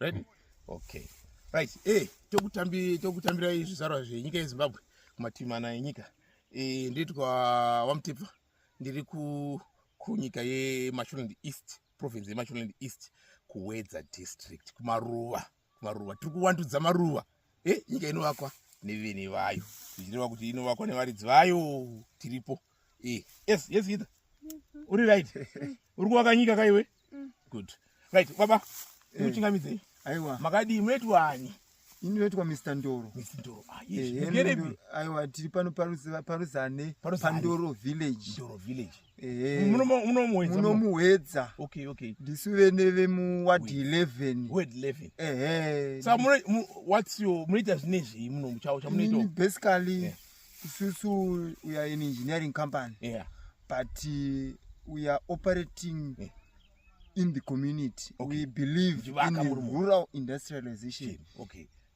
Ready? Okay. Right. Eh, tokutambi tokutambira zvizvarwa zvenyika yeZimbabwe kumativi mana enyika. Eh, ndiri kwa Wamtepa. Ndiri ku kunyika yeMashonaland East, province yeMashonaland East, kuWedza district, kumaruva. maruva tiri kuwandudza maruva e nyika inovakwa nevene vayo zvichireva kuti inovakwa nevaridzi vayo tiripo e yes yes ita uri right uri kuvaka nyika kaiwe good right baba muchingamidzei aiwa makadii mweti wani ini vetwa mr ndoro mr ndoro ah, yes. aiwa tiri pano paruzane pandoro village ndoro village munomuhedza ndisu vene vemuwadhi 11munoita zvine zvii munomuchaochamunoitobasically eh. isusu we are an engineering company yeah. but uh, we are operating yeah. in the community okay. we believe in rural industrialization okay.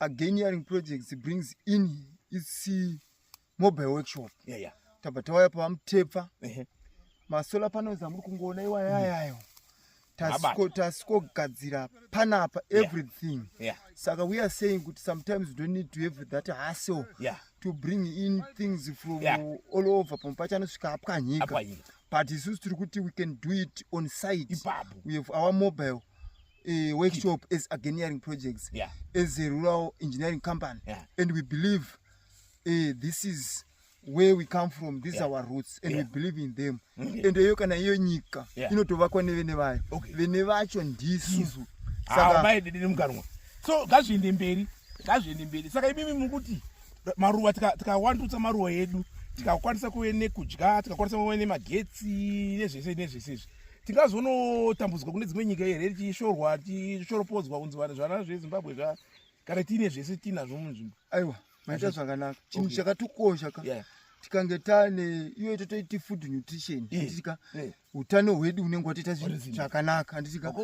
again hearing projects brings in its mobile workshop yeah, yeah. tabva tawaya pavamutepfa uh -huh. masolar panels amuri kungoona iwayayayo mm tasikogadzira panapa everything yeah. Yeah. saka we are saying kuti sometimes you don't need to have that hustle yeah. to bring in things from yeah. all over pamwe pacho anosvika apwa nyika but isusu tiri kuti we can do it on site Ibabu. we have our mobile uh, workshop as engineering projects yeah. as a rural engineering company yeah. and we believe uh, this is where we come from these yeah. our roots and yeah. we believe in them okay. and eyo kana iyo nyika yeah. inotovakwa nevene vayo okay. vene vacho ndisu sakaamaidedere mukanwa so ngazviende mberi ngazviende mberi saka imimi mukuti maruva tikawandutsa tika maruva edu tikakwanisa kuve nekudya tikakwanisa kuve nemagetsi nezvese nezvese izvi tingazonotambudzwa kune dzimwe nyika here tichishorwa tichishoropodzwa kunzi vanhu zvana zvezimbabwe zva kana tiine zvese tiinazvo munzvimbo aiwa maita zvakanaka chinhu chakatukosha ka tikange tane iyo totoiti food nutrition anditika eh, eh. utano hwedu unenge watoita zvakanaka anditika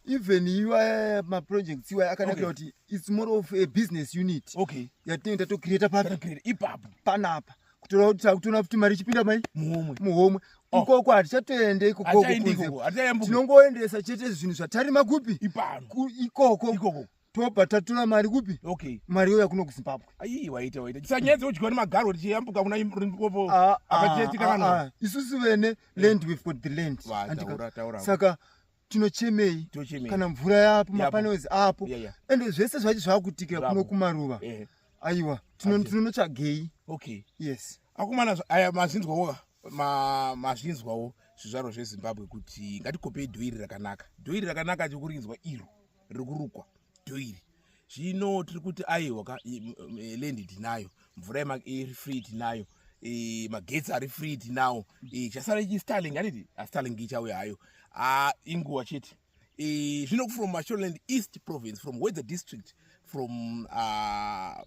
even iwaya maprojects iwaya akanakira kuti its more of a business unit yatinenge tatocreata papi panapa kutoona kuti mari ichipinda mai muhomwe muhomwe oh. ikoko hatichatoende ikokotinongoendesa chete zvinhu zvatarima kupi ikoko tobva tatura mari kupi okay. mari yo yakuno kuzimbabwe aii waita waita tisanyedze udyiwa nemagaro tichiyambuka kuna rimpopo ah, ah, apachetika kana ah, isusu vene land we've got the land saka tinochemei kana mvura yapo mapanels apo ende zvese zvacho zvakutikira kuno kumaruva eh. aiwa tinonotsvagei okay yes akomana aya mazvinzwawo mazvinzwawo zvizvaro zvezimbabwe kuti ngatikopei dhoiri rakanaka dhoiri rakanaka chikurinzwa iro riri kurukwa dhoiri zvino tiri kuti aiwa ka lendi tinayo mvura iri free tinayo magetsi ari free tinawo chasara ichi starling aniti astarling ah, ichauya hayo ah, inguva chete zvino from mashoreland east province from weather district from uh,